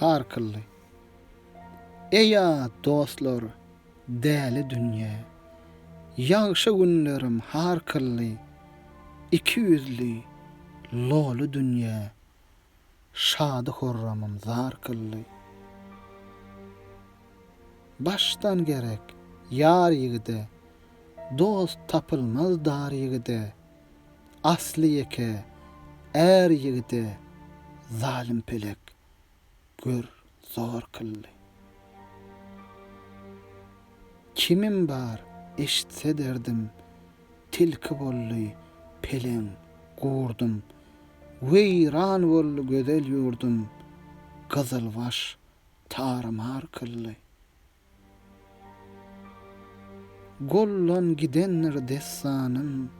Harkylly. Eý-ä dostlar, däli dünýä. Ýagşy günlerim harkylly, Iki ýüzli, loly dünýä. Şady-horramym zar kylly. Başdan gerek, ýar ýigide, Dost tapylmaz dar ýigide. Asly ýeke är ýigide zalym pelek gör zor kyldy. Kimim bar eşitse derdim, tilki boldy peleň gurdum. Weýran boldy gözel ýurdum, gyzylbaş tar-mar kyldy. Gollan gidendir dessanym,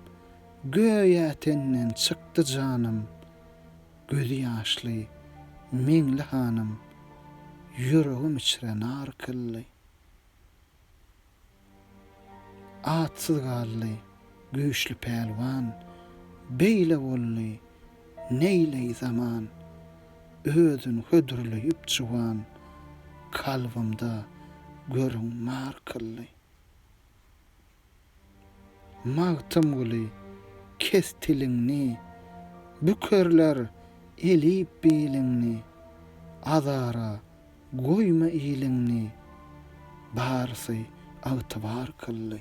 Göýä tenden çykdy janym, Gözi ýaşly Meňli hanym, Ýüregim içre nar kyldy. Atsyz galdy Güýçli pälwan, beýle boldy, neýleý zaman, Özün hödürleýip juwan, kalbymda görüň mar kyldy. Magtymguly, kes tiliňni, bükerler elip biliňni, Azara Goýma iliňni, barsy agtybar kyldy.